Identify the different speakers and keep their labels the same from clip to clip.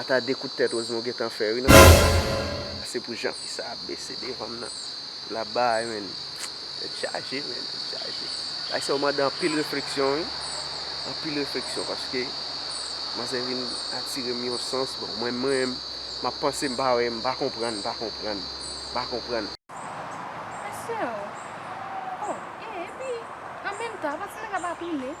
Speaker 1: Ata de kout tèt Osmo gentan fè wi nan fim nan. Se pou jan fi sa ap bese devanm nan lap bay menn tèt chaje menn tèt chaje bagay sa yo mande anpil refleksyon wi anpil refleksyon paske manzè vin atirem yon sans bon mwen menm map panse mpa wè mpa konprann mpa konprann mpa konprann.
Speaker 2: Mesye oh oh e epi an menm tan apa ti nèg la pa tounen.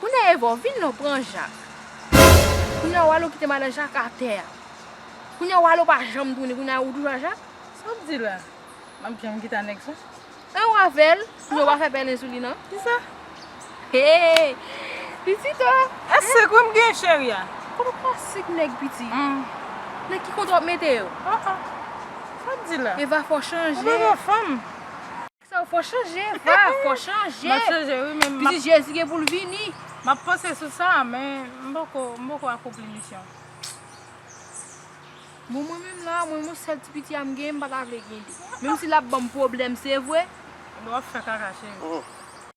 Speaker 3: Kounya
Speaker 2: Eva ou vin non pran Jak. Kounya Wallo kite madan Jak atè a. Kounya Wallo pa janm tounen kounya ou toujou a Jak. Sa wap di la?
Speaker 3: Map janm kite a nèg sa? An ou avèl?
Speaker 2: Kounya ou pa fè pèlen sou li nan? Kisa?
Speaker 3: Hee
Speaker 2: pitit oh. E sik wi m gen
Speaker 3: cheri a. Kote wap pran sik
Speaker 2: nèg pitit? Nan ki konte wap mete yo?
Speaker 3: Sa wap di la? Eva fè w chanje. Ou pa
Speaker 2: gen fanm?
Speaker 3: Sa fò
Speaker 2: chanje va fò chanje. Map chanje wi men.
Speaker 3: Pitit jezi gen poul vini.
Speaker 2: Map panse sou
Speaker 3: sa men m poko m poko akonpli misyon.
Speaker 2: Bon mwen menm la mwen yon sèl ti piti a m gen m pata vle gen 2. Menm si lap banm pwoblèm se vre. Wap fè kaka
Speaker 3: cheri.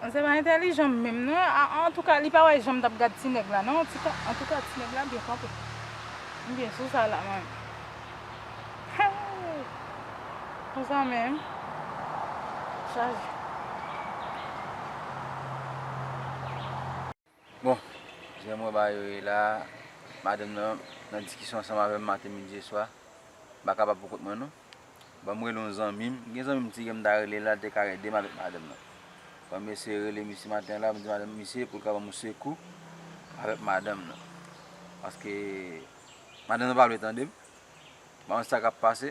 Speaker 3: Bon se pa entèlijan menm non antouka li pa wè janm tap gad ti nèg la non antouka ti nèg la byen kanpe m byen sou sa la mwen menm konsa menm chaje.
Speaker 4: Bon, jan m wè bagay yo ye la a, madanm nan nan diskisyon ansanm avè m maten, midi e swa. M pa kapab poukont mwen non. Ban m rele yon zanmi m. M gen zanmi m ti ke m ta rele l la, l te ka ede m avèk madanm nan. Ban m eseye rele misye maten la, m di madanm misye pou l ka ban m yon sekou avèk madanm nan. Paske madanm nan pa vle tande m. M pa konn sa k ap pase.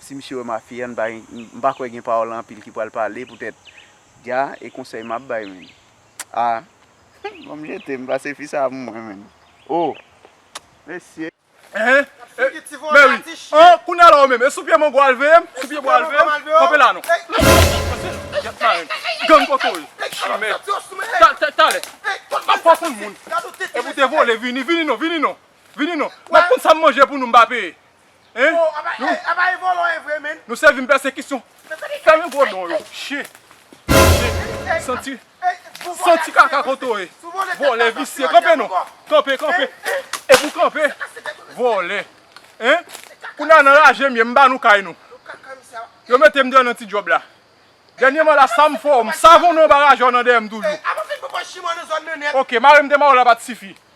Speaker 1: Si misye wè ma fille an pa gen m pa kwè gen parole anpil ki pral pale pou tèt Dja e konsèy map bay menn ah humm banm jetem pase fi sa pou mwen menn oh mesye. Eehh
Speaker 5: mèwi oh kounya la ou menm e sou pye mango al veyem sou pye bwa al veyem kanpe la non pase yap marenn gang kokoye chimè ta talè map fè w konn moun e pou te vole vini vini non vini non vini non map konn sam manje pou nou m pa peye. Hein? Oh, apa, Nou- eh, apa e vòlò e vre menn? Nou sèvi m pèsekisyon. Men kote sa? Fèmen gwo don yo. Chyen. Chyen. Santi. Ey, boubo Santi kase kaka tèt ou, kote ou ye. Sou vòlè tèt Vòlè la, visye. santi Kanpe odè non. boubo. Kanpe, kanpe. E pou kanpe. Kase tèt ou, mesye. Vòlè. Hein? Se kaka Kounye a nan raje m ye, m ba nou kay nou. Nou kaka misye a. Yo mete m deyò nan ti djòb la. Dènyèman la, sa m fè w, m savonnen w ba rajò nan dèyè m toujou. Ey, apa fè boubo chimò nan zòn nan nèt? Ok, mare m de mare w la pa t sifi.